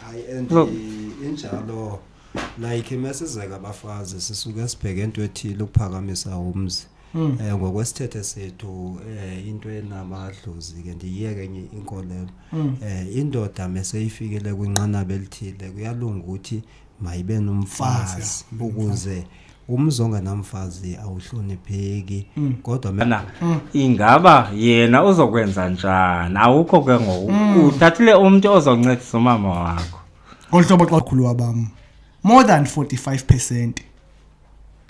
hayi and Look. i- injalo like mesizeka abafazi sisuke sibheke into ethile ukuphakamisa umzi Mm. um ngokwesithethe sethu um into enamadlozi ke ndiyiyeke enye inkolelo Mm. um indoda meseyifikele kwinqanaba elithile kuyalunga ukuthi mayibe nomfazi ukuze umzi ongenamfazi awuhlonipheki mm. kodwa mna mm. ingaba yena uzokwenza njani awukho ke ngoku mm. uthathile umntu ozoncedisa umama wakho ngolu hlobo xa khulu wabam more than 45 percent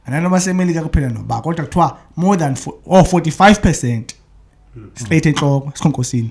ananoba semelika kuphela noba kodwa kuthiwa more than oh, 45 percent straight entloko esikhonkosini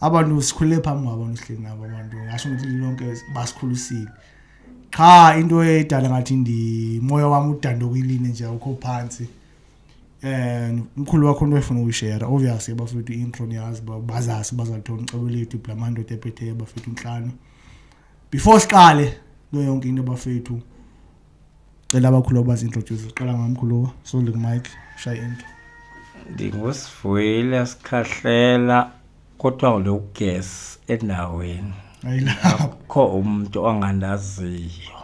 abantu sikhulele phambi kwabo nisihleli nabo abantu ngasho ukuthi lonke basikhulisile qha into edala ngathi ndimoya wami udanda okuyiline nje ukho phansi eh umkhulu wakho into efuna ukuyishare obviously bafethu intro niyazi bazasi bazalithola ucebo lethu blamando tephethe bafethu inhlanu before siqale kuyo yonke into bafethu cela abakhulu abazintroduce qala ngamkhulu soli kumike shaye into ndingusivuyile sikhahlela kodwa ngule ugesi endaweni akho umntu ongandaziyo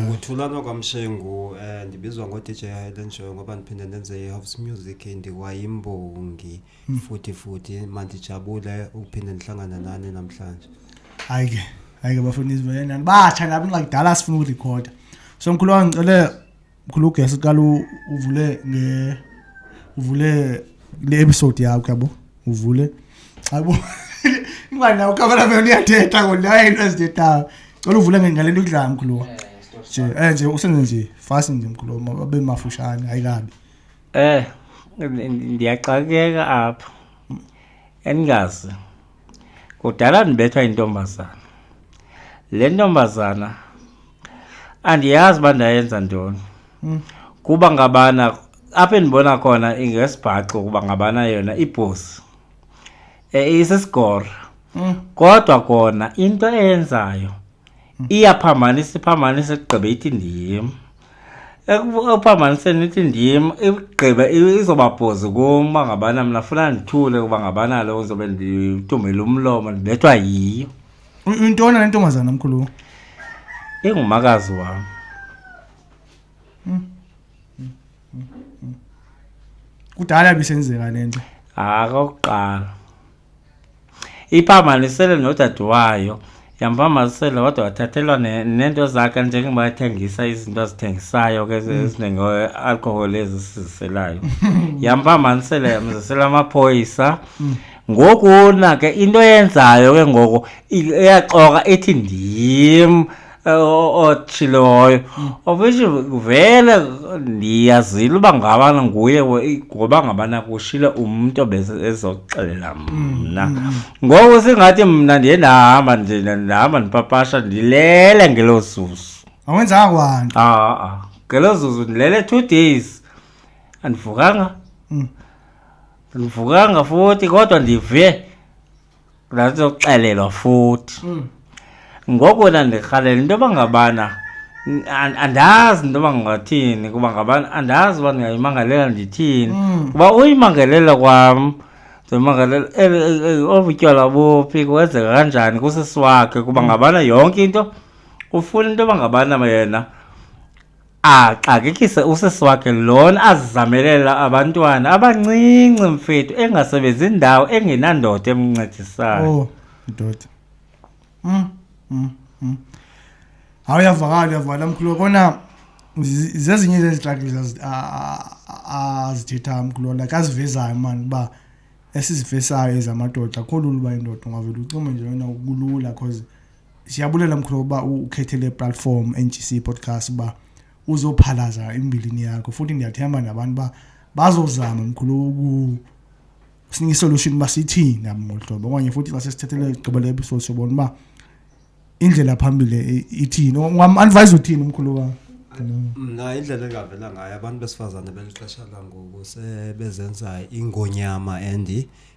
nguthulana kwamshengu um eh, ndibizwa ngodj highland show ngoba ndiphinde ndenze i-house music ndiwayimbongi hmm. futhi futhi mandijabule ukuphinde ndihlangana nani namhlanje hayi ke hayi ke bafuna izivelenani batsha nabo ingakudala sifuna ukurekhoda so mkhulu wam ngicele mkhulu ugesi qala uvule nge uvule le episode yakho yabo uvule hayibo ingwane nawo ukabela vele uyathetha kodwa hayi into ezithethayo cela uvule ngale nto kudlala mkhulu wam nje um nje usenze nje fast nje mkhulu wam abe mafushane hayi kabi Eh ndiyaxakeka apha andingazi kudala ndibethwa yintombazana le ntombazana andiyazi uba ndayenza ntoni hmm. kuba ngabana apho endibona khona ingesibhaxo kuba ngabana yona ibhosi e, isisigora hmm. kodwa kona into eyenzayo hmm. iyaphambanisa iphambanisa ekugqibe ithi ndim ekuphambaniseni ithi ndim igqibe izobabhozi kum uba ngabana mna funa ndithule uba ngabana lo ndizobe ndithumbele umlomo ndibethwa yiyo intona le ntombazana mkhulu ingumakazi wam kudala bisenzeka le nto hayi kokuqala Iphambanisele nodade wayo yamphambanisela kodwa wathathelwa ne- neento zakhe njengoba ethengisa izinto azithengisayo ke ezi- ezinenge-alcohol ezi siziselayo yamphambanisela yamzisela amaphoyisa ngokuna ke into eyenzayo ke ngoku i- iyaxoka ithi ndim otshiloyo ofishe vele ndiyazile uba ngabana nguye ngoba ngabana kushile umntu ezoxelela mna ngoku singathi mna ndiye ndahamba nje ndihamba ndipapasha ndilele ngelo zuzu awenzanga kwanto aa ngelo zuzu ndilele two days andivukanga andivukanga futhi kodwa ndive ndandixelelwa futhi mm. ngoko ndandirhalela into yoba ngabana andazi into yoba ngathini kuba ngabana andazi uba ndingayimangalela ndithini mm. kuba uyimangelela kwam ndimangalela obutywala buphi kwenzeka kanjani kusisi wakhe kuba mm. ngabana yonke into ufuna into yoba ngabana yena axakekise usisi wakhe lona azizamelela abantwana abancinci mfethu engasebenzi ndawo engenandoda emncedisayo oh ndoda mm, mm, mm. hawu uyavakala uyavala mkhulu kona zezinye zezixakile azithethayo mkhulu like azivezayo mani uba esizivesayo ezamadoda akho lula uba indoda ungavele ucime nje wena kulula cause siyabulela mkhulu uba ukhethe le platform NGC podcast uba uzophalaza imbilini yakho futhi ndiyathemba nabantu ba bazozama mkhulu uku sinika isolution uba sithini nabo ngolu hlobo okanye futhi xa sesithethele igqibele episode sobona uba indlela phambili ithini ungamadvise uthini umkhulu wam mna indlela engavela ngayo abantu besifazane belixesha langoku sebezenza ingonyama and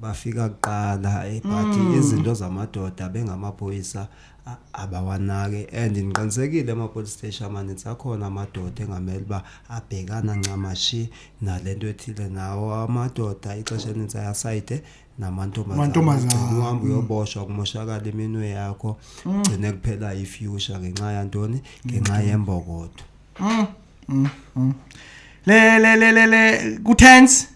bafika kuqala ebhathi mm. izinto zamadoda bengamaphoyisa abawanake and ngiqinisekile ama-police station amaninzi akhona amadoda engamele uba abhekana ncamashi nale nto ethile nawo amadoda ixesha eninzi ayasayide namantombazane uhambe uyoboshwa kumoshakala iminwe yakho mm. gcine kuphela ifuture ngenxa yantoni ngenxa mm. yembokodo mm, le le le le le kutense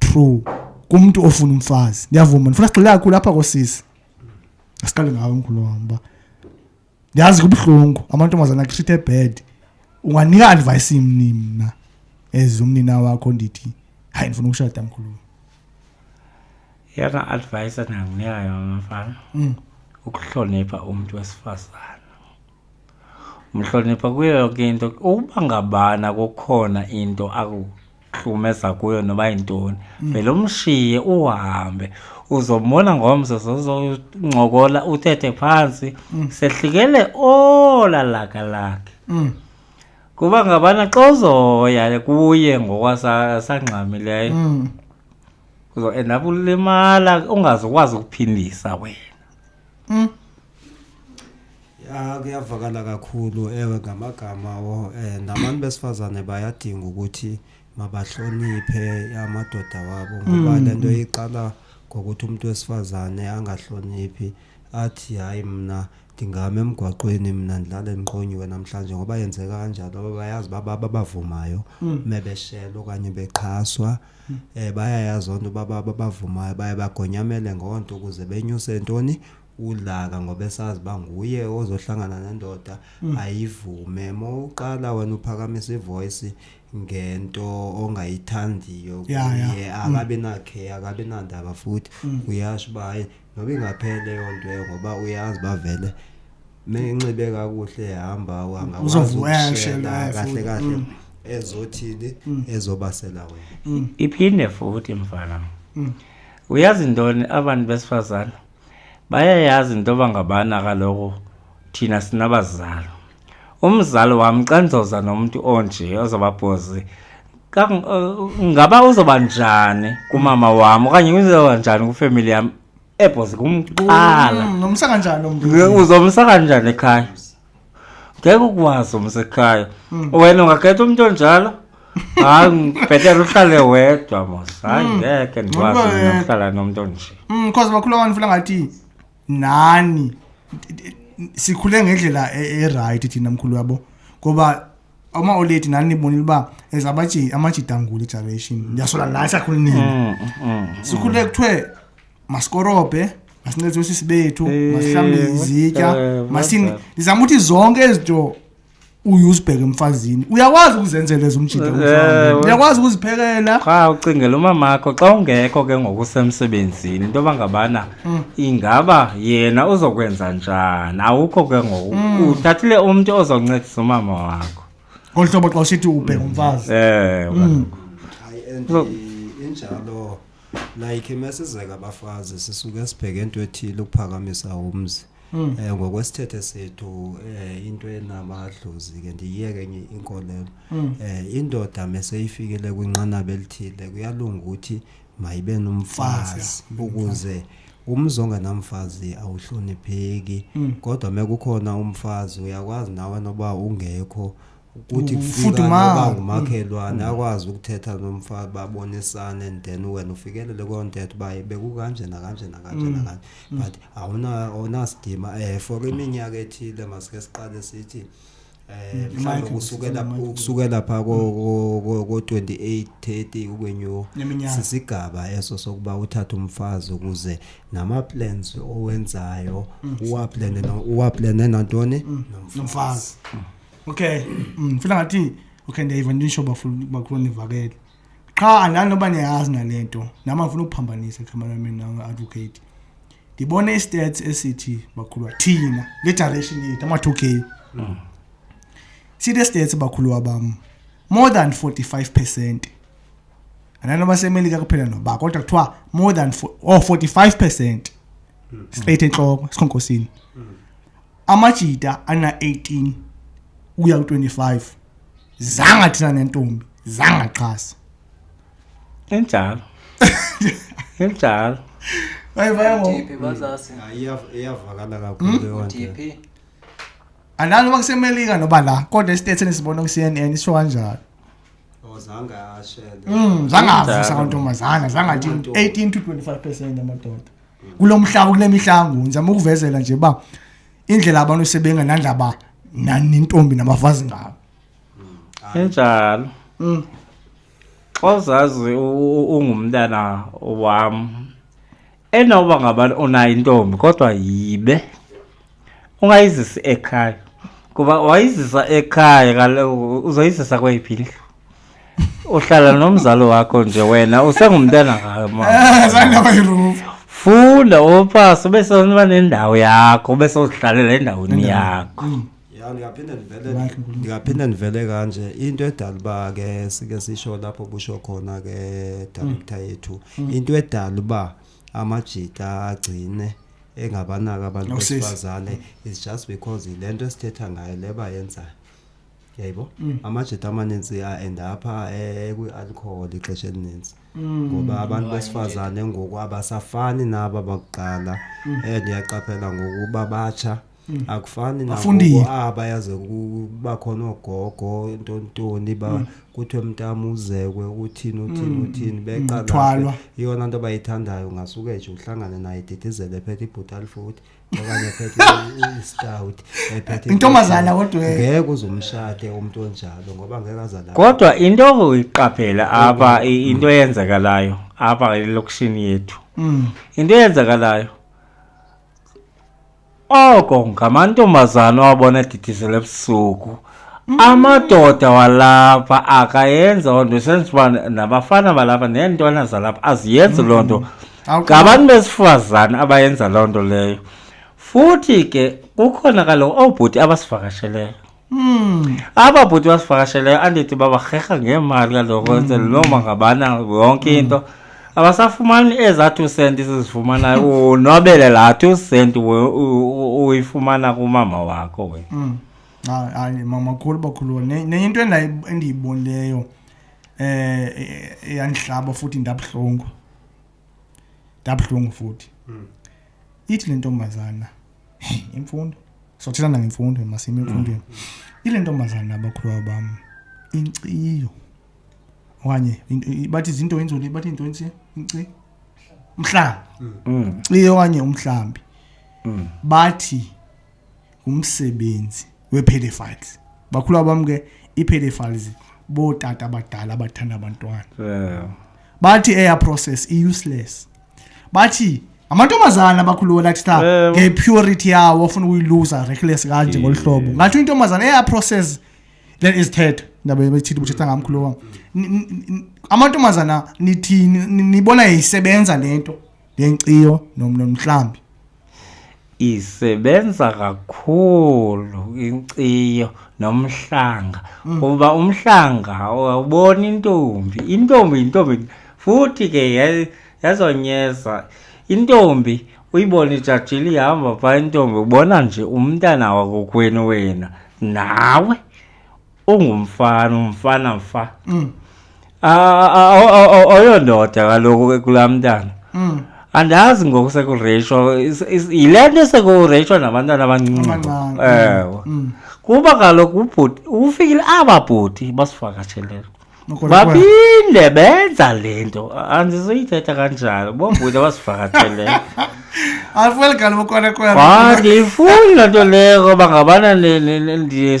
true kumntu ofuna umfazi ndiyavuma ndifuna sigxile kakhulu apha kosisi asiqale ngawo mkhulu wam uba ndiyazi kubuhlungu amantombazana akutrithe bad unganika advice imni mna as umnina wakho ndithi hayi ndifuna ukushada mkhulu yena advice endingakunika yona mfana mm. ukuhlonipha umntu wesifazane mhlonipha kuyo yonke into uba ngabana kukhona into aku hlukumeza kuyo noba yintoni mm. vele umshiye uhambe uzombona ngomso zozoncokola uthethe phantsi mm. sehlikele ola laka lakhe mm. kuba ngabana xa uzoya kuye ngokwasangxamileyo uzoenda ulimala ungazokwazi ukuphindisa wena Mm. Ya kuyavakala kakhulu ewe ngamagama wo eh nabantu besifazane bayadinga ukuthi mabahloniphe amadoda wabo ngoba mm. lento iqala ngokuthi umuntu wesifazane angahloniphi athi hayi mina ndingama emgwaqweni mina ndilale ndiqonyiwe namhlanje ngoba yenzeka kanjalo bayazi baba babavumayo mm. mebeshela okanye bexhaswa mm. um eh, bayayazi onto uba babavumayo baye bagonyamele ngoo nto ukuze benyuse ntoni udlaka ngoba esazi uba nguye ozohlangana nendoda mm. ayivume ma uqala wena uphakamisa ivoyisi ngento ongayithandiyo kuye mm. akabi nakhe akabi nandaba futhi mm. uyasho uba hayi Ngoba ingaphela leyo nto leyo ngoba uyazi bavele menxibe kakuhle hamba wangakwazi Uzovuweshe ukushela naye kahle futhi. kahle Mm. ezothini ezobasela wena. Mm. iphinde futhi mfana Mm. uyazi ntoni abantu besifazane bayayazi into yoba ngabana kaloku thina sinabazalo umzali wam xa ndizoza nomntu onje ozababhozi ngaba uzoba njani kumama wam okanye uzoba njani kwifemeli yam ebhozi kumqala mm, nomsa kanjani lo mntu uzomsa kanjani ekhaya ngeke ukwazi umsa ekhaya mm. wena ungakhetha umntu onjalo hayi ngibhetele uhlale wedwa mos hayi mm. ngeke ndikwazi nokuhlala nomntu onje because bakhula abantu funa ngathi nani sikhule ngendlela e-, erayithi thina mkhulu wabo ngoba uma oleti nani nibonile uba as amajidangula igeneration ndiyasola nani sakhule nini mm, mm, mm. sikhule kuthiwe masikorobhe masincedise usisi bethu masihlambile izitya masini ndizama ukuthi zonke ezinto uye uzibheke emfazini uyakwazi ukuzenzela ezumjida eh, uyakwazi ukuziphekela qha ucingela umamakho xa ungekho ke ngokusemsebenzini into yoba ngabana mm. ingaba yena uzokwenza njani awukho ke ngoku mm. uthathile umntu ozoncedisa umama wakho ngolu hlobo xa usithi ubheke mm. umfazi ewe mm. injalo like mesizeka abafazi sisuke sibheke into ethile ukuphakamisa umzi mm. eh, ngokwesithethe sethu eh, into enamadlozi ke ndiyiyeke enye inkolelo mm. eh, indoda meseyifikele kwinqanaba elithile kuyalunga ukuthi mayibe nomfazi ukuze umzi ongenamfazi awuhlonipheki mm. kodwa mekukhona umfazi uyakwazi nawe noba ungekho ukuthi futhi ma ngumakhelwane mm. akwazi ukuthetha nomfana babonisane and then wena ufikelele koo ntetha uba bekukanje nakanje nakanje mm. nakanje mm. but awunasidima um eh, for iminyaka ethile masike siqale sithi eh mhlawumbe kusukela kusukela pha ko 28 30 ukwenyu sisigaba eso sokuba uthathe umfazi ukuze nama plans owenzayo uwa plan uwa plan nantoni nomfazi okay mm, funa ngathi okay ndiyayiva ndisho bafuna bakhulu nivakele qha andani noba niyayazi nale nto nam andifuna ukuphambanisa cameraman na-advocate ndibone istats esithi bakhulwa thina le direction yethu ama-two k sithi stats bakhulwa bam more than 45 percent andani noba semelika kuphela noba kodwa kuthiwa more than fo- oh 45 percent straight entloko esikhonkosini amajita ana-18 ukuya ku-25 zanga thina nentombi zangaxhasa injalo injalo ayivayangophi bazasi iyavakala kakhulu yonke analo uba kusemelika noba la kodwa isithethe nisibona ku-cnn isho kanjalo Oh, zange ashele Mm, zangavusa kantombazana zangathi 18 to 25 percent amadoda kulo mhlaba kule mihla ngoku ndizama ukuvezela nje uba indlela abantu sebengenandaba nentombi nabafazi ngawo enjalo mm. xa uzazi ungumntana wam enoba ngabani onayo intombi kodwa yibe ungayizisi ekhaya kuba wayizisa ekhaya kaloku uzoyizisa kweyiphi indlu uhlala nomzali wakho nje wena usengumntana ngayo ma zandaba irufu funda opasi ube soniba nendawo yakho ube sozihlalela endaweni yakho ya ndingaphinde ndivele Like unkulunkulu. ndingaphinde ndivele kanje into edala uba ke sike sisho lapho busho khona ke director yethu into edala uba amajita agcine engabanaki abantu Usisi. besifazane is just because le nto esithetha ngayo le bayenzayo yayibo Mm. amajita amaninzi aenda apha eh, kwi-alcohol ixesha elininzi Mm. ngoba abantu besifazane ngoku abasafani naba bakuqala Mm. and yaqaphela ngokuba batsha Mm. akufani nabo ah bayaze kuba khona ogogo into ntoni ba mm. kuthiwe mntamu uzekwe uthini uthini mm. uthini beqala iyona nto bayithandayo ngasuke nje uhlangane naye didizele ephethe ibhutal futhi okanye ephethe istout ephethe intombazana kodwa ngeke uzumshade umuntu onjalo ngoba ngeke azala kodwa into iqaphela apha into eyenzakalayo apha elokishini yethu into eyenzakalayo Oko ngamantombazana owabona edidizela ebusuku. Mm. Amadoda walapha akayenza loo nto senza uba nabafana balapha neentwana zalapha aziyenzi loo nto. Mm. Ngabantu besifazane abayenza loo nto leyo. Futhi ke kukhona kaloku oobhuti abasivakasheleyo. Hmm. aba bhuti basivakasheleyo andithi babarherha ngeemali kaloku hmm. loma ngabana yonke hmm. into abasafumani ezaa two cent sizifumanayo unwabele laa two cent uyifumana kumama wakho we hmm. hayi mama khulu bakhulu nenye into endiyibonileyo um eh, e-, eyandihlaba futhi ndabuhlungu ndabuhlungu futhi ithi le ntombazana imfundo sothetha nangemfundo masime emfundweni mm. ile ntombazana abakhuluwa bam inkciyo okanye bathi zinto inzulu bathi into insi inci umhlambi mm. iye okanye umhlambi mm. bathi ngumsebenzi wepedophiles bakhulu abam ke ii-pedophiles bootata abadala abathanda abantwana yeah. bathi eya process i-useless bathi amantombazana abakhulu wona athi ta yeah. ngepurity yawo ofuna ukuyiluza reckless kanje ngolu hlobo yeah. ngathi intombazana eya process then izithetha ndaba bethitha ubuthetha ngamkhulu wam amantombazana nithini nibona isebenza le nto ngenkciyo nomhlambi isebenza kakhulu inkciyo nomhlanga mm. kuba umhlanga awubona intombi intombi intombi futhi ke yazonyeza intombi uyibona ijajile ihamba phaa intombi ubona nje umntana wakokwenu wena nawe ungumfana umfana mfa Mm. Ah, ah, aw- aw- aw- awuyondoda kaloku ke kulaa mntana Mm. andazi ngoku sekureyishwa is- is- yile nto sekureyishwa nabantwana abancinci Abancane. ewe Mm. kuba kaloku ubhuti ufikile aba bhuti basivakatshelele Nokho lokwa- babinde benza le nto andizuyithetha kanjalo boobhuti abasivakatshelele Afuel kaloku kwana kwana. Ah, ndiyifuni loo nto leyo ngoba ngabana ne- ne- ne- ndiye-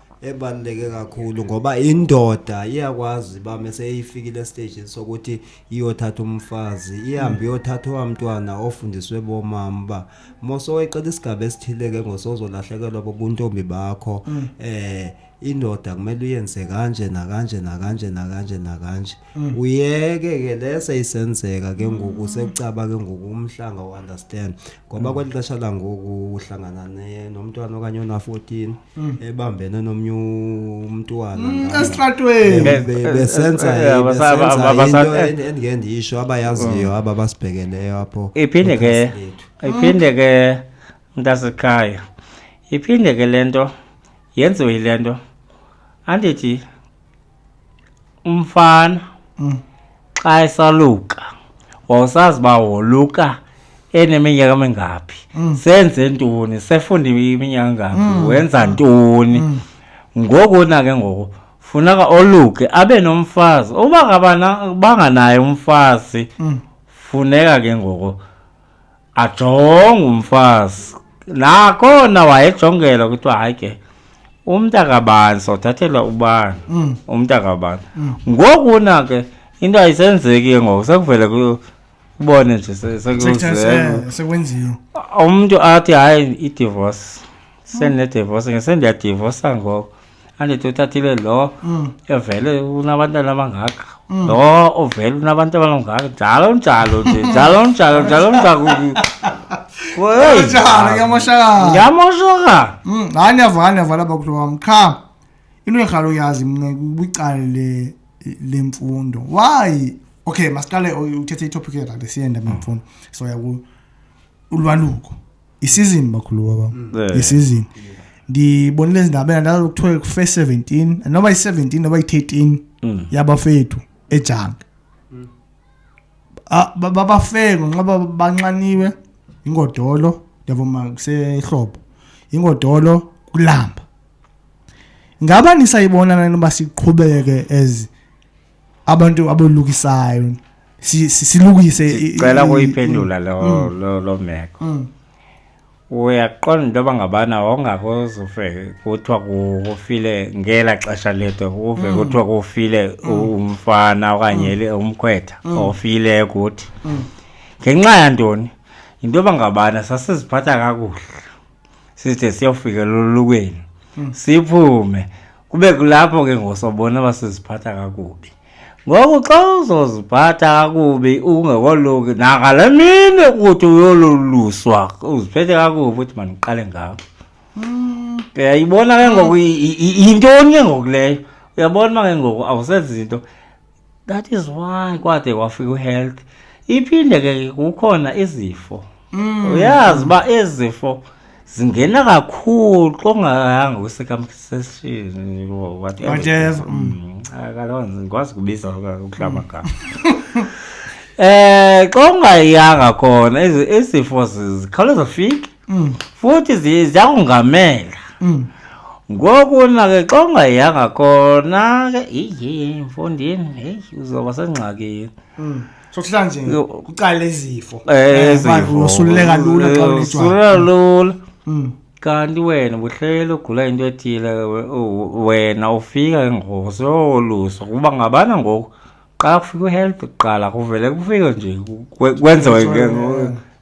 ebaluleke kakhulu ngoba indoda iyakwazi uba meseyifikile esitejini sokuthi iyothatha umfazi ihambe iyothatha owamntwana ofundiswe bomama uba mosoweqela isigaba esithile ke ngosozolahlekelwa bobuntombi bakho um indoda kumele uyenze kanje nakanje nakanje nakanje nakanje Mm. uyeke ke le seyisenzeka ke ngoku mm. sekucaba ke ngoku umhlanga uunderstand ngoba mm. kweli xesha langoku uhlangana nomntwana okanye ona-14 ebambene nomnye umntwana esitratwenibesenzaaendingeke ndiyisho abayaziyo aba basibhekeleyo apho iphinde ke iphinde ke mntasekhaya iphinde ke le nto yenziwe yile nto andithi umfana mm. xa esaluka wawusazi uba woluka eneminyaka emingaphi mm. senze ntoni sefunda iminyaka engaphi mm. wenza ntoni mm. ngoku na ke ngoku funeka oluke abe nomfazi uba banganaye umfazi mm. funeka ke ngoku ajonga umfazi nakhona wayejongela kuthiwa hayi ke umntu akabani sothathelwa ubani Mm. umntu akabani ngoku na ke into ayisenzeki ke ngoku sekuvele ku- kubone nje se- Sekuthe sekuzele se- sekwenziwe umntu athi hayi idivorce sendinedivorce ngesendiyadivorsa ngoku a ni to tatile lo mm. evele unabantu labangaka mm. lo uvele unabantu abangaka njalo njalo nje njalo njalo njalo njalo njalo ngiyamoshakala ngiyamoshakala mm, hayi ndiyava hayi ndiyava lapha kulo wam qha into endirhala uyazi mna ubicali le mfundo why okay masiqale uthethe itopic yethathe siyenda mfuna soya ulwaluko isizini bakhulu baba mm. isizini ndibonile ezindabeni ndalo kuthiwe ku-first seventeen noba yi-seventeen noba yi-thirteen mm. yabafethu ejange mm. babafeko nxa banxaniwe ingodolo ndiyavuma kusehlobo ingodolo kulamba ngaba nisayibona nani uba siqhubeke as abantu abolukisayo silukise sicela kuyiphendula mm. lo mm. lo lo meko mm. uyaqonda into yoba ngabana wawungakoze uve kuthiwa kufile ngela xesha lethu uve kuthiwa kufile umfana okanye umkhwetha ofile kuthi ngenxa yantoni yinto yoba ngabana sasiziphatha kakuhle sithe siyofika lolukweni hmm. siphume kube kulapho ke ngosobona basiziphatha kakubi ngoku xa uzoziphatha kakubi ungekoluki nangale mini ukuthi uyoluluswa uziphethe kakubi ukuthi mandiqale ngabo hmm. uyayibona ke ngoku yintoni ke ngoku leyo uyabona uba ke ngoku awusenzi zinto that is why kwade kwafika uhealth iphinde ke kukhona izifo mm. uyazi uba izifo zingena kakhulu xongayanga kwisekamseshini whatever mm. ah, kaloo nzi ndikwazi kubiza ukuhlaba mm. gama eh xa ungayanga khona izifo zikhawuleza fike mm. futhi ziya kungamela mm. ngoku nake xa ungayanga kona ke iye mfondini heyi uzoba sengxakini mm. sokuhlala nje kuqala izifo usululeka eh, eh, lula xa usululeka lula mm. kanti wena buhlele ugula into ethile wena ufika ke ngoku sowolusa kuba ngabana ngoku qala kufika uhelp kuqala kuvele kufike nje kwenziwe ke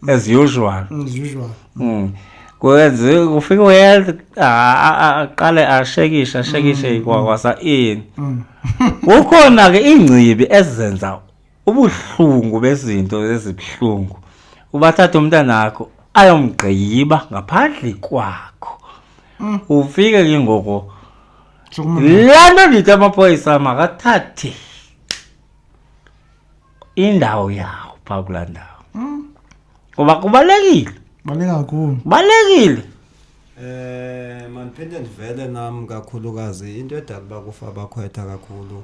as usual mm, as usual mm. kwenze kufika uhealth aqale ashekishe ashekishe mm, kwakwasa ini kukhona ke ingcibi ezenza ubuhlungu bezinto ezibuhlungu ubathatha umntana wakho ayomgqiba ngaphandle kwakho ufike ke ngoko Chuma. laa nto ndithi amapolisa makathathe indawo yawo phaa kulaa ndawo Mm. ngoba kubalulekile Baleka kakhulu. kubalulekile Eh mandiphinde ndivele nam kakhulukazi into edala uba kufa abakhwetha kakhulu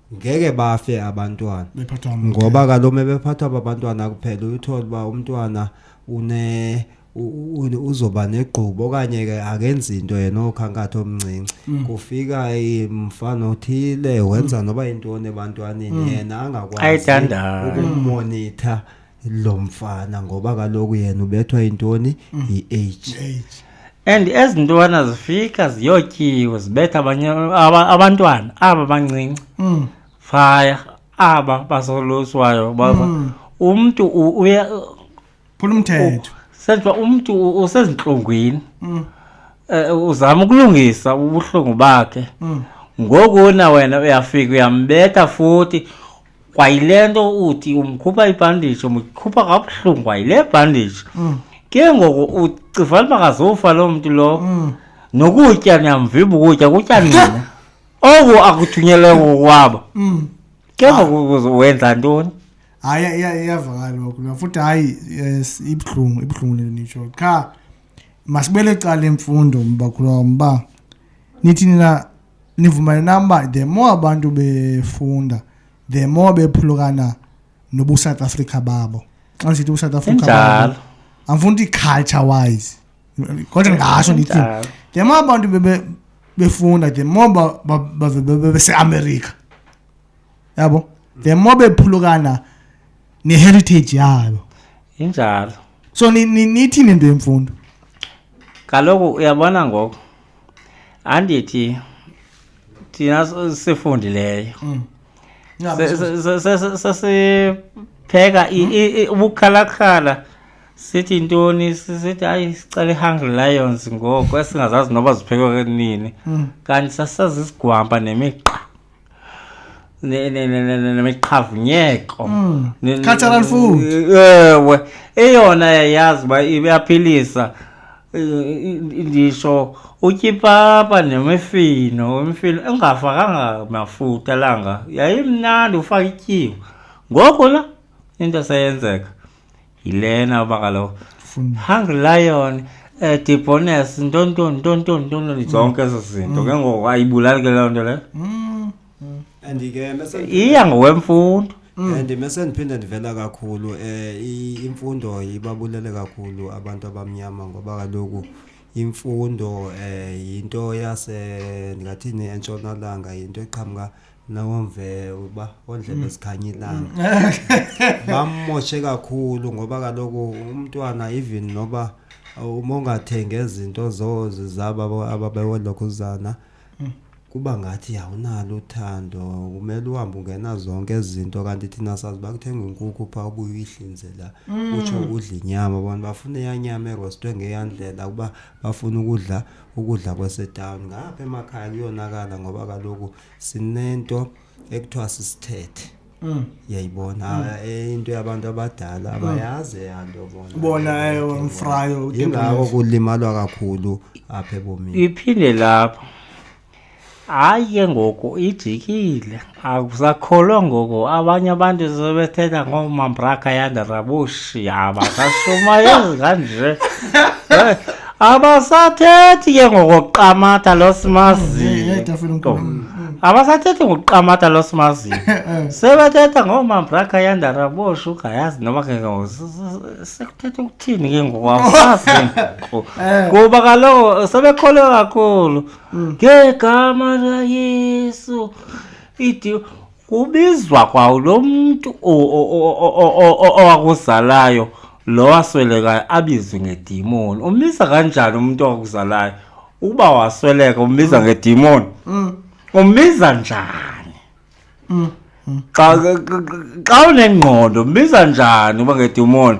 ngeke bafe abantwana bephathwa amabele. ngoba kaloku mebephathwa babantwana kuphela uyuthole uba umntwana une u- u- uzoba negqubo okanye ke akenzi into yena okhankatha omncinci Mm. kufika imfana othile wenza noba yintoni ebantwaneni yena angakwazi Ayidandayo. ukumonitha lo mfana ngoba kaloku yena ubethwa yintoni mm. yi-age and ezi ntwana zifika ziyotyiwe zibetha abanye abantwana aba bancinci mm. faya aba basoluswayo baba mm. umntu uya phula umthetho senjwa umntu usezintlungwini um uzama ukulungisa ubuhlungu bakhe ngoku na wena uyafika uyambetha futhi kwayile nto uthi umkhupha ibhandishi umkhupha kabuhlungu kwayile bhandishi mm. ke ngoku ucivana uba kazofa loo mntu lowo mm. nokutya niyamvimba ukutya kutya nina oku akuthunyelwe ngokwabo mm. ke ngoku wenza ntoni hayi iyavakala oku nafuthi hayi ibuhlungu ibuhlungu le nto nitsho qha masibele cala imfundo mbakhulwa mba nithi nina nivumane nam uba the more abantu befunda the more bephulukana nobusouth africa babo xa ndisithi ubusouth africa babo andifuna ukuthi culture wise kodwa ndingasho ndithi the more abantu befunda the more baseamerica yabo the more bephulukana neheritage yabo injalo so nithini into yemfundo kaloku uyabona ngoku andithi thina sifundileyo mm. sesipheka mm. ubukhalakhala sithi ntoni sithi hayi sicela i-hungry lions ngoku esingazazi noba ziphekwe nini mm. kanti sasisazisigwampa nemigqa neqhavunyeko mm. cultural food ewe eyona yayazi uba iyaphilisa ndisho utyipapa nemifino imifino engafakanga mafuta langa yayimnandi ufake ityiwa ngoku la into seyenzeka yilena uba kaloku hungry lion um debones ntontoni ntontoni ntontoni zonke ezo zinto ke ngoku ayibulali ke loo nto leyo Mm. and ke mese iya ngokwemfundo and mese ndiphinde ndivela kakhulu um imfundo ibabulele kakhulu abantu abamnyama ngoba kaloku imfundo um yinto yase ndingathini entshonalanga yinto eqhamuka nangomvelo uba ondlebe mm. zikhanye ilanga mm. bammoshe kakhulu ngoba kaloku umntwana even noba uma ungathengi ezinto zozi zabo ababewolokhuzana mm. kuba ngathi awunalo uthando kumele uhambe ungena zonke izinto kanti thina sazi bakuthenga inkukhu phaa ubuye uyihlinzela utsho udla inyama abantu bafuna eyanyama erostwe ngeyandlela ukuba bafuna ukudla ukudla kwasetawuni ngapha emakhaya kuyonakala ngoba kaloku sinento ekuthiwa sisithethe Mm. yayibona mm. Ah, eh, into yabantu abadala mm. abayazi yanto bona bona ewe eh, mfrayo ingako kulimalwa kakhulu apha ebomini iphinde lapho hayi ke ngoku ijikile akusakholwa ngoku abanye abantu sebethetha ngoomambraka yandarabushi yaba kashumayezi kanje abasathethi ke ngokuqamatha lo simaziyo Yedwa fela unkulu. Mm. abasathethi ngokuqamatha lo simaziyo Eh, sebethetha ngoomambraka yandara boshuga yazi noma ke ngoku s- s- sekuthetha ukuthini ke ngoku awusazi ngoku. Eh. kuba kaloku sebekholwe kakhulu ngegama layesu idi kubizwa kwawo lo mntu owakuzalayo lo waswelekayo abizwe ngedimoni umbiza kanjani umntu owakuzalayo ukuba wasweleka umbiza mm. ngedimoni mm. umbiza njani mm. xa unengqondo umbiza njani uba ngedimoni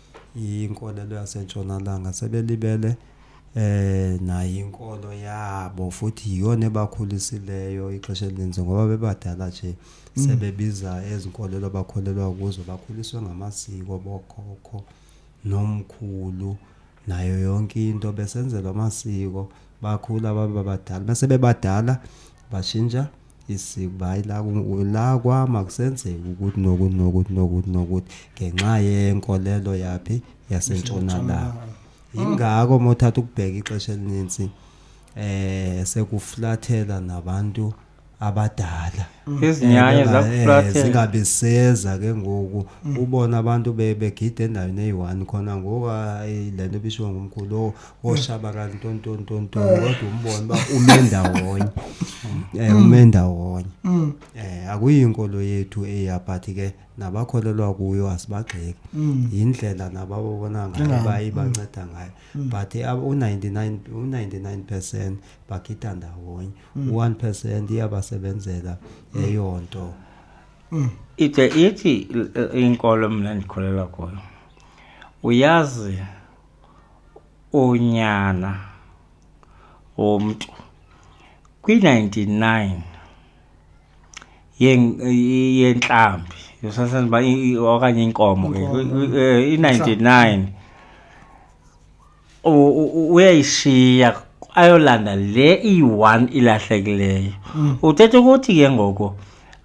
Yinkolelo yasentshonalanga sebelibele eh nayo inkolo yabo futhi yiyona ebakhulisileyo ixesha elininzi ngoba bebadala nje mm. sebebiza ezinkolelo bakholelwa kuzo bakhuliswe ngamasiko bokhokho nomkhulu nayo yonke into besenzelwa amasiko bakhula baba badala bese bebadala bashintsha isikuba hayi la ku- la kwam akusenzeki ukuthi nokuthi nokuthi nokuthi nokuthi ngenxa yenkolelo yaphi yasentshonalanga yingako uma uthatha ukubheka ixesha elininzi eh sekuflathela nabantu abadala izinyanya Eh, zakuflathela zingabe seza ke ngoku ubona abantu be- begida endaweni eyi-one khona ngoku hayi le nto bishiwo ngumkhulu o woshabalala nto nto nto nto eh. kodwa umbona uba ume ndawonye um eh, ume mm. ndawonye um akuyinkolo yethu eya but ke nabakholelwa kuyo asibagxeki mm. yindlela nabababona ngayo baye banceda ngayo but u-99 u-99 percent bakhitha ndawonye u-one percent iyabasebenzela eyo nto ide ithi inkolo mna ndikholelwa kuyo uyazi unyana womntu kwi-99 yentlambi yosasazi uba okanye inkomo ke eh, i-99 uyayishiya ayolanda le iyi-one ilahlekileyo mm. uthetha ukuthi ke ngoku mm.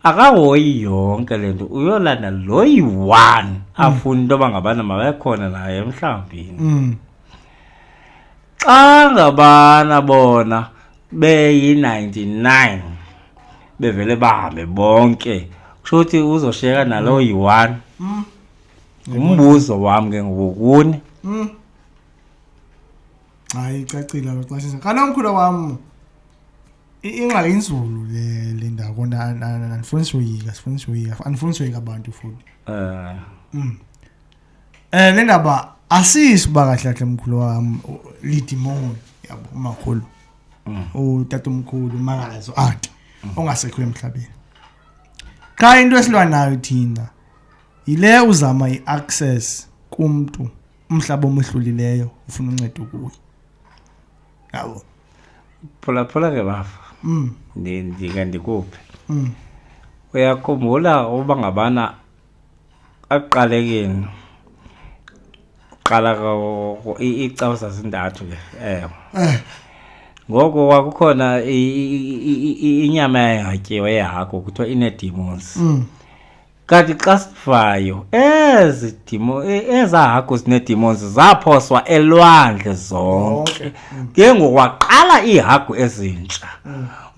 akahoyi yonke le nto uyolanda lo yi-one mm. afuna into yoba ngabana mabekhona naye emhlawumbini mm. xa ngabana bona beyi-99 bevele bahambe bonke kusho ukuthi uzoshiyeka nalo mm. yi-one umbuzo wam ke ngokuni hayi icacile loxashisa kanti omkhulu wam ingxaki inzulu le le ndawo andifuni soyika sifuni soyika andifuni soyika abantu futhi um mm. eh, le ndaba asisi uba kahle kahle mkhulu wam lidimoni yabo umakhulu mm. utata omkhulu umakazi uati mm. ongasekho emhlabeni qha into esilwa nayo thina yile uzama i-access kumntu umhlaba omehlulileyo ufuna uncedo kuye yabo phulaphula ke bafa mm. ndike ndikuphe mm. uyakhumbula uba ngabana aqalekeni qala iicawu zazintathu ke ewe eh. ngoko kwakukhona inyama yayingatyiwe yehagu kuthiwa inee-demons mm. Kanti xa sivayo ezi dimo e- eza hagu zineedemons zaphoswa elwandle zonke ke ngoku waqala iihagu ezintsha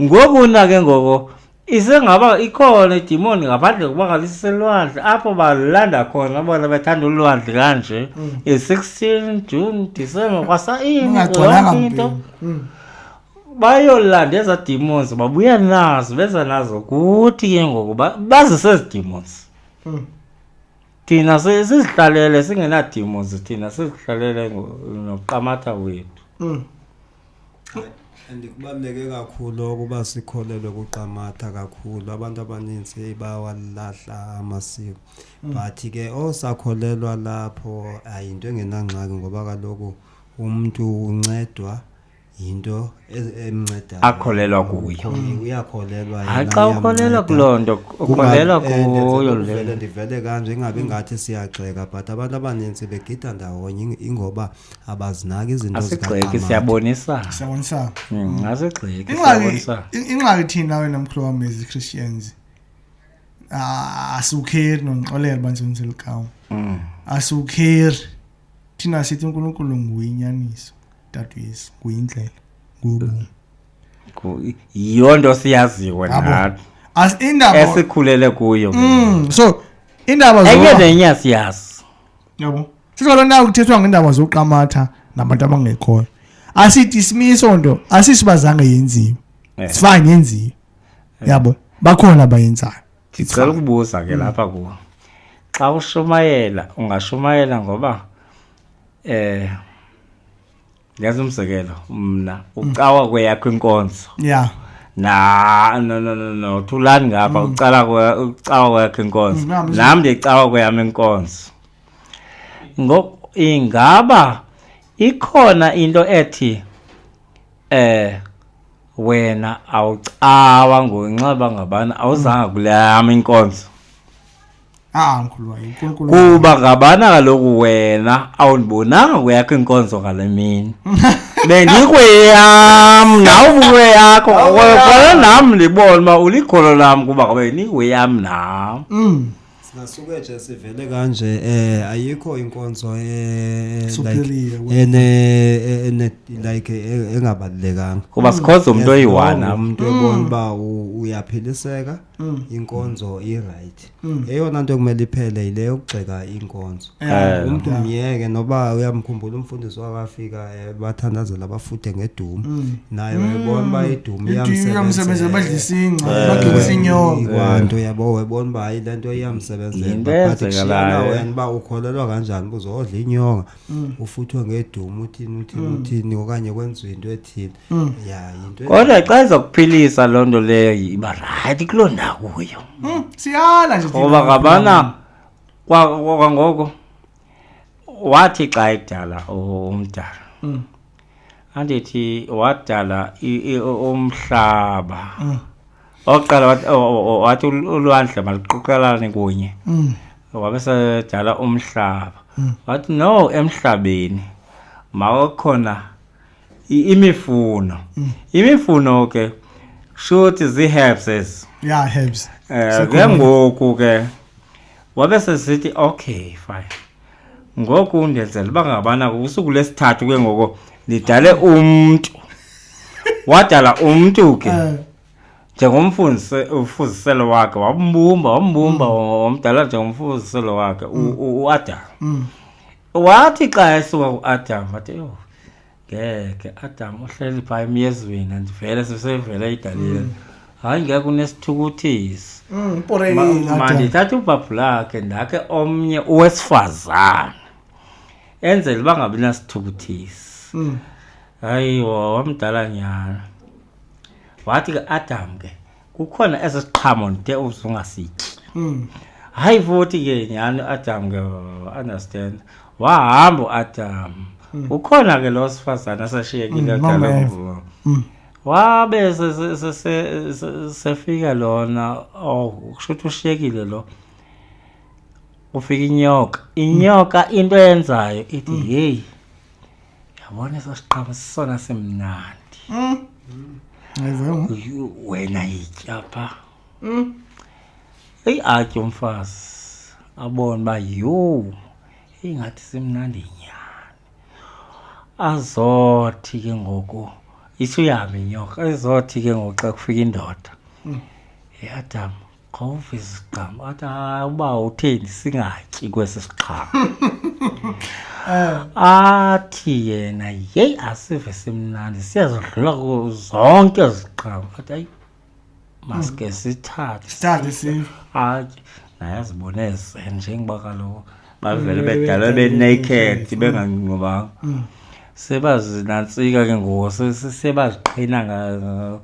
ngoku na ke ngoko isengaba ikhona idimoni ngaphandle kokuba ngaliselwandle apho balanda khona bona bethanda ulwandle kanje i-16 june december kwasayini Ingagcwalanga yonke into mpilo. Mm. bayolanda eza demons babuya nazo beza nazo kuthi ke ngoku ba- bazise ezi demons Mm. thina si- sizihlalele singenademons thina sizihlalele ngo- noqamatha wethu Mm. and kubaluleke kakhulu ukuba sikholelwe kuqamatha kakhulu abantu abaninzi hey, bawalahla amasiko but ke osakholelwa lapho ayinto engenangxaki ngoba kaloku umntu uncedwa yinto e- emncedayo akholelwa kuyo Mm, uyakholelwa hayi yena, xa ukholelwa iyamnceda. kuloo nto Kunga- ukholelwa eh, kuyo ndenzela le ukuvele ndivele kanje ingabi ngathi siyagxeka but abantu abaninzi begida ndawonye ing- ingoba abazinaki izinto asigxeki zikaAmanda. siyabonisana siyabonisana Mm, asigxeki ingxaki siyabonisana in- ingxaki thina wena mkhulu wam as i-christians Ah, asiwukheri nondixolela uba ndisebenzisa elikawo asiwukheri thina sithi unkulunkulu nguye inyaniso Tata uYesu nguyindlela ngubomi. Yiyo nto siyaziwe nathi. As indaba esikhulele kuyo. Mm, so indaba zo Enye nenye asiyazi. Yabo. Sizolo nayo kuthethwa ngendaba zoqamatha nabantu abangekhoyo. Asidismiso nto, asisibazange yenziwe. Eh. It's fine yenziwe. Eh. Yabo. Bakhona abayenzayo. Ndicela ukubuza ke lapha kuwe. xa ushumayela ungashumayela ngoba Eh Yazi umzekelo mna ucawa kweyakho inkonzo. Yeah. Na no no no no thulani ngapha mm. ucala kwa ucawa kwakhe inkonzo. Mm, Nam ndicawa kweyami inkonzo. Ngok ingaba ikhona into ethi eh wena awucawa ngokunxiba ngabana awuzanga kuleyama inkonzo Ah, mkhulu wayo, uNkulunkulu. kuba ngabana kaloku wena awundibonanga kweyakho inkonzo ngale mini bendikweyam nawe ubukweyakho kona nam ndibona uba ulikholo lam kuba ngabe ndikweyam nam Mm. Singasuke nje sivele kanje eh ayikho inkonzo eh Superior, like wena. ene eh, ene like eh, engabalekanga. kuba sikhonza umntu oyi-one Wrong, am Umuntu ebona uba u- uyaphiliseka. Mm. inkonzo irayithi mm. eyona nto ekumele iphele yile yokugxeka inkonzo eh. umntu myeke noba uyamkhumbula umfundisi wakafika eh, bathandazela abafuthe ngedumu mm. naye wayebona uba idumu iyamsebenzela badlisisinqabagisinyokanto eh. yabo wayebona uba hayi le nto iyamsebenzela but kshiyana wena uba ukholelwa kanjani uba uzodla inyonga mm. ufuthwe ngedumu uthini uthini mm. uthini okanye kwenziwa into ethile mm. ya yinto kodwa xa izakuphilisa loo nto leyo iba rayithi kuloo ndakuyo mm. siyala nje ngoba ngabana kwangoko wathi xa edala umdala mm. andithi wadala umhlaba mm. okokuqala wathi ulwandle maluquqelane kunye mm. wabe sedala umhlaba mm. wathi no emhlabeni mawakhona imifuno imifuno ke shuthi zii-herbses ya herbs um eh, ke ngoku ke wabe sesithi okay fine ngoku ndenzela uba ngabana usuku lesithathu ke ngoko ndidale umntu wadala umntu ke eh. njengomfuziselo wakhe wambumba wambumba mm. wamdala njengomfuziselo wakhe mm. uadam mm. wathi xa esuka uadam athi yho ngeke adam uhleli phaa emyezweni andivele sisevele igalile mm. hayi ngeke unesithukuthisi mm, mandithatha ubhabhu lakhe ndakhe omnye owesifazane enzele uba ngabi nasithukuthisi mm. hayi wamdala nyana wathi ke adam ke kukhona esi siqhamo ndide uzungasityi mm. hayi futhi ke nyhani uadam ke understand wahamba uadam mm. ukhona ke lo sifazane asashiyekile mm, adalomvumo mm. wabe sefika lona oh kusho ukuthi ushiyekile lo ufika inyoka inyoka into eyenzayo ithi mm. yeyi yabona eso siqhamo sisona simnandi Yho, wena yitya pha eyi atye umfazi abone uba yho ingathi simnandi nyhani azothi ke ngoku itsho uyahambe inyoka ezothi ke ngoku xa kufika indoda yadama Qhawuva iziqhamo. Athi hayi uba utheni singatyi kwesi siqhamo. Athi yena yeyi asive simnandi siyazidlula kuzo zonke iziqhamo. Athi hayi maske sithathe. Sithathe sive. Atye naye azibone ezenje njengoba kaloku bavele Mm, bedalwe bedalwe benaked benaked, bengangqubanga. Sebazinantsika ke ngoku se- se- sebaziqhina nga-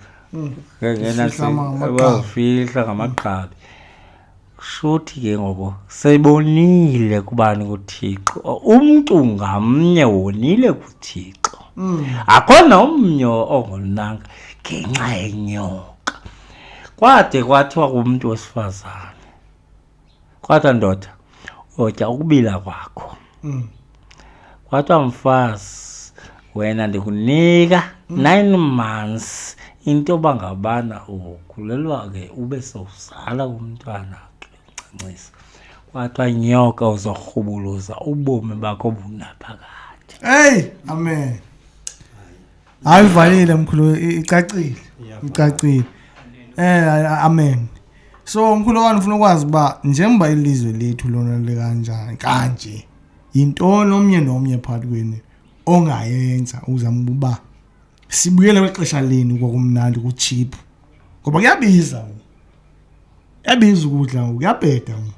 wawufihla ngamagqabi shuthi ke ngoku sebonile kubani kuthixo umntu ngamnye wonile kuthixo mm. akho nomnye ongonanga ngenxa yenyoka kwade kwathiwa kumntu wesifazane kwathiwa ndoda otya ukubila kwakho mm. kwathiwa mfazi wena ndikunika mm. nine months into yoba ngabana ukhulelwa ke ube sowuzala umntwana ke uncancisa kwathiwa nyoka uzorhubuluza ubomi bakho bunaphakade eyi amen hayi uvalile mkhulu i- icacile icacile eh a- amen so mkhulu wani ufuna ukwazi uba njengoba ilizwe lethu lona likanjani kanje yintoni omnye nomnye phakathi kwenu ongayenza uzama uba sibuyele kwexesha lenu kwakumnandi kutshiphu ngoba kuyabiza ngoku. kuyabiza ukudla ngoku kuyabheda ngoku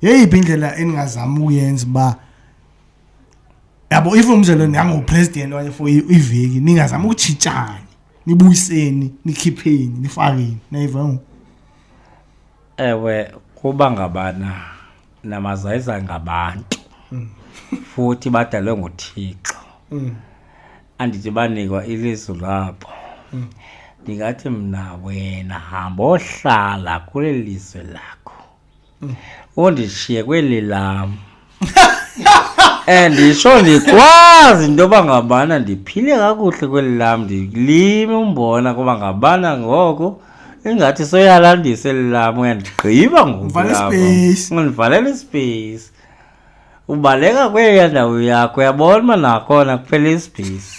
yeyiphi indlela eningazama ukuyenza uba yabo if umzelo ndingangopresident okanye for iveki ningazama ukutshitshani nibuyiseni nikhipheni nifakeni nayiva ngoku ewe kuba ngabana namazayiza ngabantu futhi badalwe nguthixo andithi banikwa ilizwi labo ndingathi mna wena hamba ohlala kule lizwe lakho undishiye kweli lam and nditsho ndikwazi into yoba ngabana ndiphile kakuhle kweli lam ndilime umbona kuba ngabana ngoko ingathi soyalandisa eli lam uyandigqiba ngoku Ndivalela lapha. ispace. undivalela ispace ubaleka kweya ndawo yakho uyabona uba nakhona kuphela isibhisi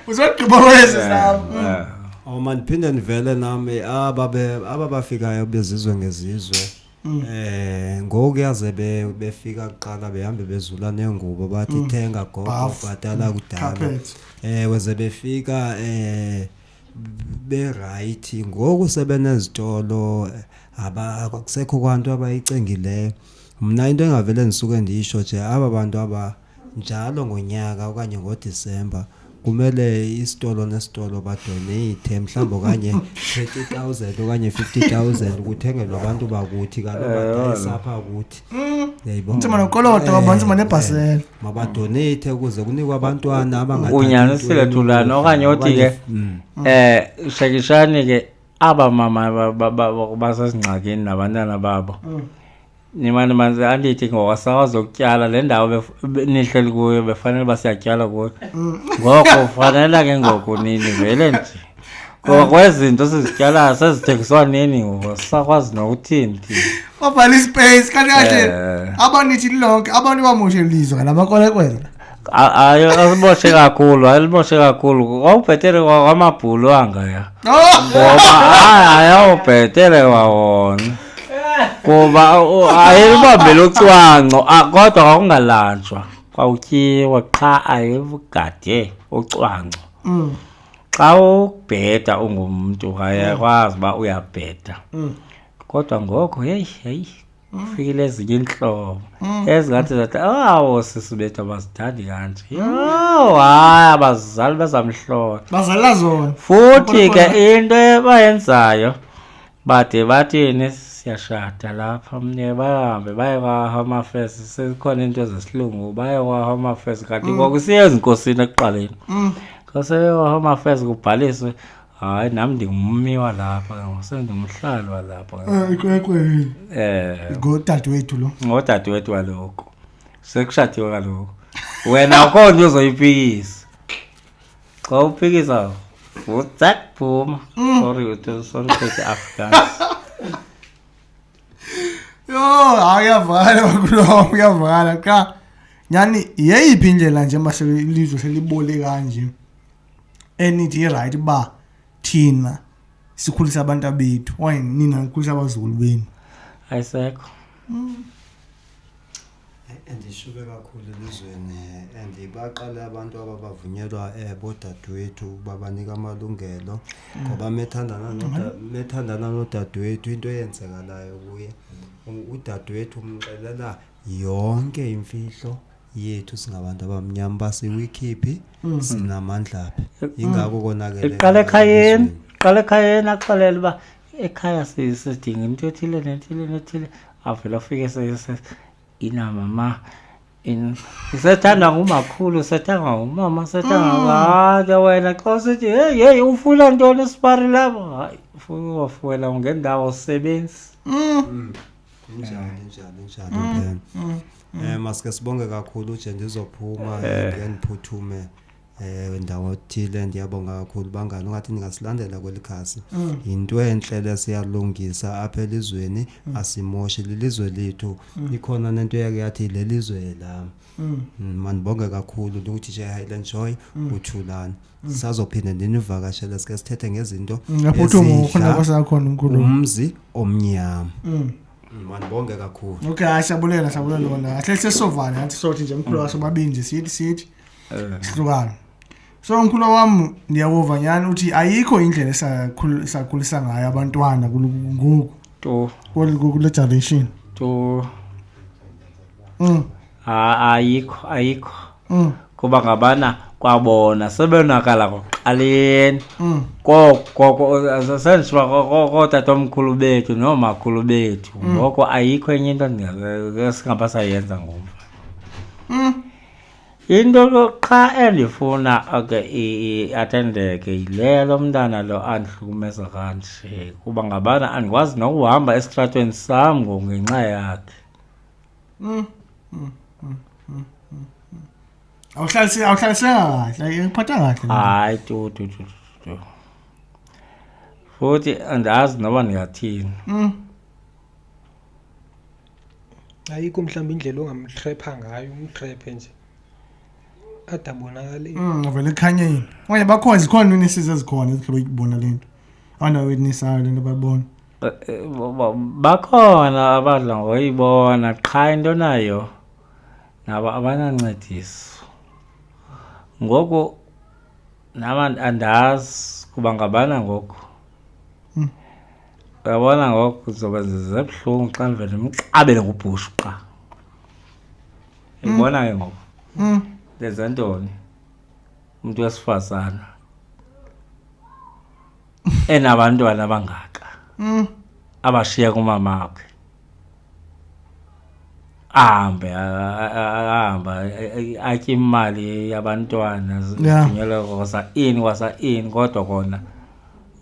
uzogqiba kwezi zam o mandiphinde ndivele nam eh, aba bafikayo bezizwe ngezizwe um ngoku yaze befika kuqala behambe bezula neengubo bathi mm. thenga gogo bhatala mm. kudala um weze befika um berayithi ngoku sebenezitolo akusekho kwanto abayicingileyo mna into engavele ndisuke ndiyisho nje aba bantu aba njalo ngonyaka okanye ngodisemba kumele isitolo nesitolo badonate mhlawumbi okanye 30000 okanye 50000 kuthengelwe abantu bakuthi kaloku badayisa apha kuthi nzima nokoloto eh, abantu manebhasela eh, mabadoneyithi ukuze kunikwe abantwana abangaunyanisile thulana okanye othi ke um mm. eh, shekishani ke aba mama basezingxakini nabantwana babo mm. nimane manzi andithi ngokwasakwazi ukutyala le ndawo nihleli kuyo befanele uba siyatyala kuyo mm. ngoko fanela ke ngoku nini vele nje ngoba kwezinto sizityalayo sezithengiswa nini ngoba sisakwazi nokuthini thina wabhala ispace kanti kahle Eh. abanithi lonke abantu bamoshe lizwe ngala makolekwela A- ayo alimoshe kakhulu alimoshe kakhulu wawubhetele kwa- kwamabhulu angaya oh ngoba hayi ayawubhetele kwawona kuba u- ayelibambele ucwangco a- kodwa kwakungalanjwa kwawutyiwa qha ayelugade ucwangco mm xa ubheda ungumntu ayakwazi uba uyabheda mm. kodwa ngoko heyi heyi kufikile ezinye iintlobo mm. ezingathi zathi awo sisi bethu abazithandi kanje mm. yho hayi abazali bezamhlolo bazala zona futhi ke into ebayenzayo bade bathini siyashada lapha mnye bahambe baye kwa-home affairs sezikhona into zesilungu baye kwa-home affairs kanti mm. kwakusiye ezinkosini ekuqaleni mm. kwaseye kwa-home affairs kubhaliswe hayi nam ndingummi walapha sendingumhlali walapha eh, ikwekweyini um eh. ngodadewethu lo ngodadewethu waloko sekushadiwe kaloko wena akho nto uzoyipikisa xa uphikisa nguzak phuma mm. sorry uthi sorry uthi afrikaans yho hayi uyavakala bakulom uyavakala qha nyhani yeyiphi indlela nje uba ilizwe selibole kanje enithi irayithi uba thina sikhulisa abantu abethu okanye nina nikhulisa abazukulu benu ayisekho mm. Andishuke kakhulu elizweni and baqale abantu aba bavunyelwa um bodadewethu uba banika amalungelo ngoba methandana noda- methandana nodadewethu into eyenzekalayo kuye u- udadewethu umxelela yonke imfihlo yethu singabantu abamnyama uba siwikhiphi sinamandlaphi yingako konakele iqala ekhayeni iqala ekhayeni axelele uba ekhaya sidinga into ethile nethile nethile avele afike inamama sethandwa ngumakhulu sethandwa ngumama sethandwa ngake mm. wena xa usithi heyi heyi ufuna ntoni esipari lapho hayi ufuna uwafuwela ngendawo sebenzi mm. mm. njani njani njani um eh, masike sibonge kakhulu nje ndizophuma eh. ndiye ndiphuthume Eh ndawo thile ndiyabonga kakhulu bangani ungathi ningasilandela kweli khasi. Mm. Yinto enhle lesiyalungisa apha elizweni mm. asimoshi lilizwe lethu. Mm. Ikhona nento yake yathi lelizwe la. Mandibonge kakhulu ukuthi nje Highland Joy uthulani. Sazophinde ndinivakashele sike sithethe ngezinto. Ngaphuthuma mm, ukhona kwasakhona umkhulu. Umzi omnyama. Mandibonge kakhulu. Okay, siyabulela siyabulela lona. Ahle sesovana ngathi sothi nje mkhulu wasobabini nje sithi sithi sihlukana so mkhula wam ndiyawuva nyhani uthi ayikho indlela esakhulisa ngayo abantwana ngoku to kule generation to mm. ayikho ayikho mm. kuba ngabana kwabona sebonakala ngokuqaleni mm. kokokootata omkhulu bethu noomakhulu bethu mm. ngoko ayikho enye into singabasayenza ngomva mm. Into qha endifuna ke iathendeke yile lo mntana lo andihlukumeza kanje kuba ngabana andikwazi nokuhamba esitratweni sam ngongenxa yakhe mm, mm, mm, mm, mm, mm. awuhlalise awuhlaliseka kahle ngiphatha kahle le nto. hayi tu tu tu tu, tu futhi andazi noba ndingathini Mm. ayikho mhlawumbi indlela ongamtrepha ngayo umtrephe nje ade abonakale Mm, uvele ekhanyeni okanye bakhona zikhona iwitnesses ezikhona ezihlobo ikubona le nto abantu abawitnessayo le nto bayibona Eh, eh, ba- ba- bakhona abadla ngoyibona qha into nayo nabo abanancediso ngoku nam and- andazi kuba ngabana ngoku uyabona ngoku zoba zebuhlungu xa ndivele ndimqabele ngubhushu qa ndibona ke ngoku Mm. ndenze ntoni umntu wesifazana enabantwana abangaka Mm. abashiya kumama wakhe ahambe ahambe atye imali yabantwana zinyelwe wasa ini wasa ini kodwa kona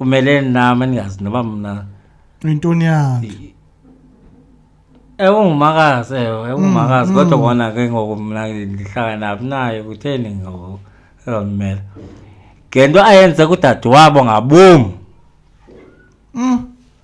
umele nam endingazi noba mna yintoni yakhe ewungumakazi ewe ewungumakazi mm, kodwa mm. kona ke ngoku mna ndihlala naphi naye kutheni ngoku ezamela ngento ayenze kudade wabo ngabom mm.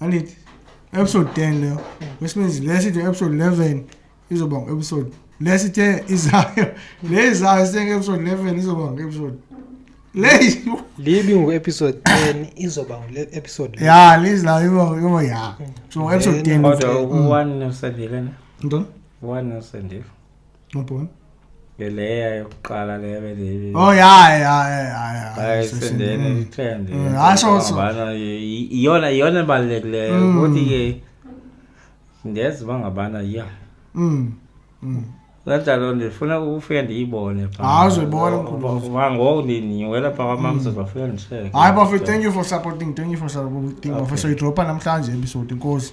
andithi episode 10 leyo which means le sithi episode 11 izoba ngu-episode le sithe izayo le izayo sithe nge-episode 11 izoba ngu-episode le libi ngu-episode 10 izoba ngu-episode ya lizayo iba ya so ngu-episode 10 kodwa u-one usendelena ntoni u-one usendelena Ubhona. ngeleya yokuqala leyo bendiyibili Oh ya ya ya ya. hayi Session. sendene Mm. ithende Mm, hayi, so- so- Ngabana, i- iyona iyona ebalulekileyo Mm. ukuthi ke ndezi uba ngabana ya Mm. Mm. kanjalo ndifuna ukufika ndiyibone phaa. Hayi, uzoyibona, mkhulu. Uba- uba ngoku ndiniwela phaa kwamamsa bafika ndisheke Hayi bafethu, thank you for supporting. Thank you for supporting. Okay. Bafethu soyidropa namhlanje episode inkosi.